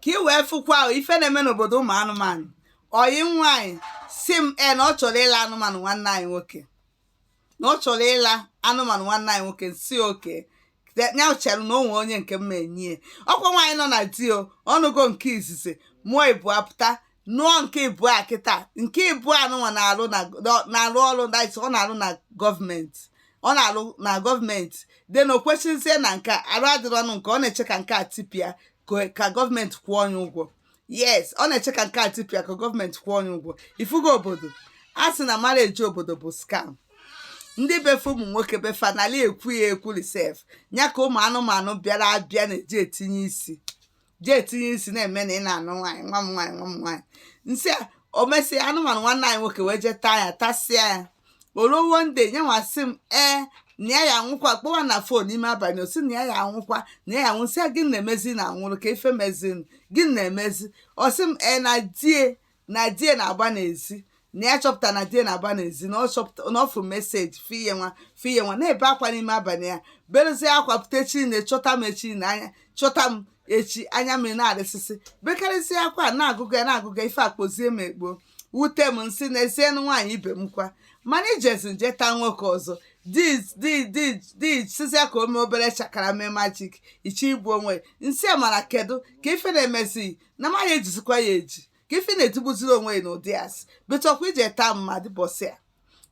ka ị wee fụkwa ife na-eme n'obodo ụmụ anụmanụ ọyị nwaanyị sị m e na ọ chọrọ ịla anụmanụ nwanne anyị nwoke na ọ chọrọ ịla anụmanụ nwanne anyị nwoke sị okay ya chere na o nwe onye nke m ma-enye ya ọkwa nwaanyị nọ na di o ọ nụgo nke izizi mụọ ịbụa pụta nụọ nke ịbụa kịta nke ịbụa anụnwa na-alụ na-alụ ọrụ ọ na-alụ na gọọmenti ọ na-alụ na gọọmenti dị na o kwesịzie na nke arụ adịrọ ọ nụ nke ọ na-eche ka nke a tipịa ka gọọmenti kwụọ onye ụgwọ yes ọ na-eche ka nke a tipịa ka gọọmenti kwụọ onye ụgwọ ị fụgo obodo a sị na marriage obodo bụ scam ndị be fa ụmụ nwoke be fa n'ala ekwu ya ekwuri sef ya ka ụmụ anụmanụ bịara abịa na-eji etinye isi ji etinye isi na-eme na ị na-anụ nwaanyị nwa m nwaanyị nwa m nwaanyị nsị a o mesịa anụmanụ nwanne anyị nwoke wee jee taa ya tasịa ya o ruo one day nya nwa sị m ee na ya ya anwụkwa kpọwa na phone n'ime abalị ọ sị na ya ya anwụkwa na ya ya anwụ nsị a gịnị mezi na anwụrụ kee ife mezi gịnị mezi ọ sị m ee na di ya na di ya na-agba n'ezi na ya chọpụtara na di ya na-agba n'ezi na ọ chọpụta na ọ fụ message fiye nwa fiye nwa na-ebe akwa n'ime abalị ya berezie akwa pụta echi na chọta m echi na nya chọta m echi anya mmiri na-arịsịsị bekarịsịa akwa a na-agụgụ ya na-agụgụ ya ife akpozie m ekpo wute m nsị n'ezienụ nwaanyị ibe m kwa mana ị jezi nje taa nwoke ọzọ di sịzịa ka o mee obere shakara mee magic ị chọ igbu onwe nsị a mara kedu ka ife na-emezi na m ya-ejizikwa ya eji ka ife na-etigbuziri onwe ya n'ụdị asị bụchọkwa ije taa mmadụ ụbọsị a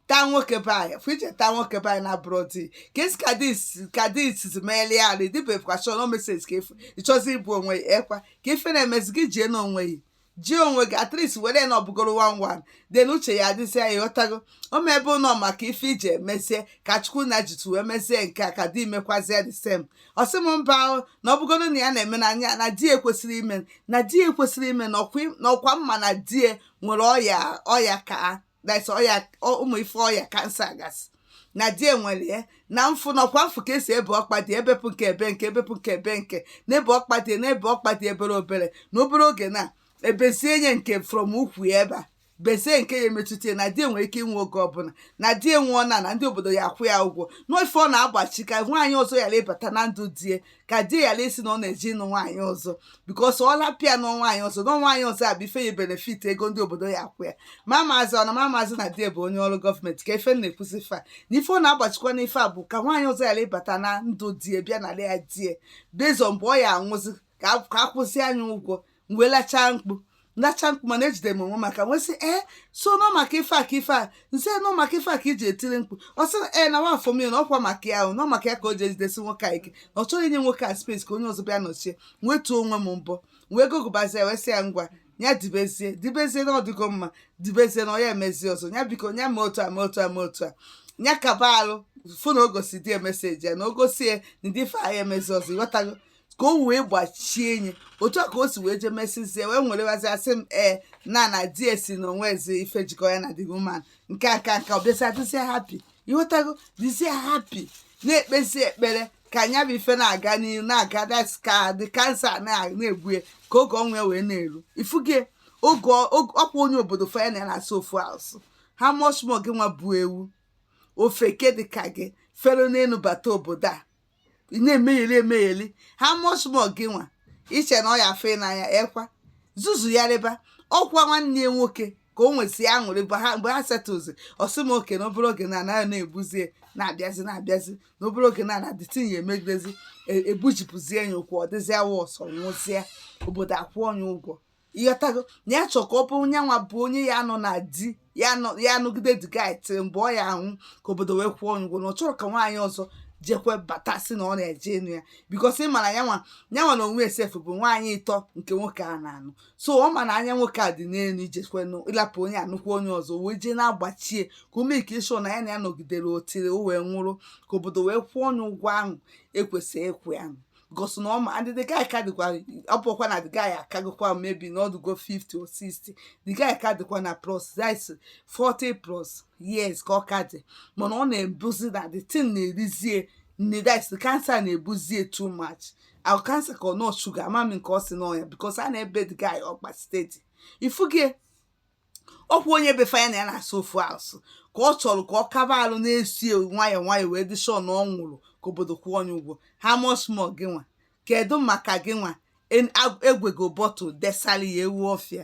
taa nwoke be anyị fụ ije taa nwoke be anyị na abroad ka e si ka dis ka dis meeli ya notification message ka ị fụ ị chọzi igbu onwe ya ekwa ka ife na-emezi gị jie n'onwe ya jie onwe gị at least were na ọ bụgoro one one dị n'uche ya adịzi ya ị ghọtago o ma ebe ụlọ maka ife iji emezie ka chukwu na jitu wee mezie nke a ka di mekwazie the same ọ sị m mba o, na ọ bụgodo na ya na-eme nya na di ya ekwesịrọ ime na di ya ekwesịrọ ime na ọkwa na ọkwa m ma na di ya nwere ọya ọya ka that's ọya ọ- ụmụ ife ọya cancer gasị na di ya nwere ya na m fụ na ọkwa m fụ ka e si ebe ọkpa di ya bepụ nke a be nke a bepụ nke a be nke a na-ebe ọkpa di ya na-ebe ọkpa di ya obere obere na obere oge na ebezie nya nke from ukwu ya ebe a bezie nke ya emetụta na di ya nwere ike ịnwụ oge ọbụla na di ya nwụọ na na ndị obodo ya akwụ ya ụgwọ na ife ọ na-agbachi ka nwaanyị ọzọ ghara ịbata na ndụ di ya ka di ghara ịsị na ọ na-eje ịnụ nwaanyị ọzọ because ọ lapịa nụọ nwaanyị ọzọ nụọ nwaanyị ọzọ a bụ ife ya benefit ego ndị obodo ya akwụ ya ma maazị ọ na ma maazị na di bụ onye ọrụ gọọmenti ka ife na-ekwuzi fa na ife ọ na-agbachikwa na ife a bụ ka nwaanyị ọzọ ghara ịbata na ndụ di ya bịa na ya die bezọ mgbe ọ ya-anwụzi ka a- ka akwụzi anyị ụgwọ m wee lachaa mkpu lacha mkpu mana ejidere m onwe m aka wee sị ee so na ọ maka ife a ka ife a nse na ọ maka ife a ka i ji etiri mkpu ọ sị na ee na nwa afọ m ya na ọkwa maka ya ahụ na ọ maka ya ka o ji ejidesi nwoke a ike na ọ chọghị inye nwoke a space ka onye ọzọ bịa nọchie m wee tụọ onwe m mbọ m wee gụgụbazie ya wee sị ya ngwa ya dibezie dibezie na ọ dịgo mma dibezie na ọ ya emezie ọzọ ya biko ya mee otu a mee otu a mee otu a ya kaba alụ fụ na o gosi di ya meseji ya na o gosi ya na ndị ife a ya emezi ọzọ ịghọtago ka o wee gbachie enyi otu a ka o si wee jee mesizie wee nwerewazi asị m ee na na di e sị na o nwezi ife jikọ ya na the woman nke a ka nka ọ bịazi dịzie happy ịghọtago dịzie happy na-ekpezi ekpere ka nya bụ ife na-aga n'ihu na-aga that's ka the cancer na- na-egbu ya ka oge ọnwụ ya wee na-eru ifuge oge ọ- oge- ọkwa onye obodo fa nya na ya na-asụ ofu asụ how much more gị nwa bụ ewu ofeke dịka gị fere n'elu bata obodo a ị na-emegheli emegheli how much more gị nwa i che na ọ ya afụ ị n'anya ekwa zuzu ya rịba ọkwa nwanne ya nwoke ka o nwezịa aṅụrị mgbe ha mgbe ha setụzi ọ sị m okay na obere oge na anaghị na-egbuzie na-abịazi na-abịazi na obere oge na na the thing ya emegidezi e- egbujipụzie ya ụkwụ ọ dịzịa worse ọ nwụzịa obodo akwụọ ya ụgwọ ịghọtago na ya chọrọ ka ọ bụrụ nyanwa bụ onye ya nọ na di ya nọ ya anọgide di gị till mgbe ọ ya anwụ ka obodo wee kwụọ nya ụgwọ na ọ chọrọ ka nwaanyị ọzọ jekwe bata si na ọ na-eje anụ ya because ị mara yanwa yanwa na onwe ya sef bụ nwaanyị ịtọ nke nwoke a na-anụ so ọ ma na anya nwoke a dị n'elu i jekwe nụ ịlapụ onye a nụkwa onye ọzọ wee jee na-agbachie ka ọ make sure na ya na ya nọgidere until o wee nwụrụ ka obodo wee kwụọ nya ụgwọ ahụ e kwesịrị ịkwụ ya nụ because na ọ ma and the guy ka dịkwa ọ bụkwa na the guy akagokwa maybe na ọ dịgo 50 or 60 the guy ka dịkwa na plus that's 40 plus years ka ọ ka dị mana ọ na-abụzi na the thing na-erizie nne that's the cancer na-egbuzie too much ọ cancer ka ọ nọ sugar ama m nke ọ si n'ọnya because a na-ebe the guy ọkpa steady ifugie ọkwa onye be fa nya na ya na-asụ ofu asụ ka ọ chọrọ ka ọ kaba alụ na-esi nwayọọ nwayọọ wee dị sure na ọ nwụrụ ka obodo kwụọ nya ụgwọ how much more gị nwa kedu maka gị nwa egwego bottle desali ya ewu ọfịa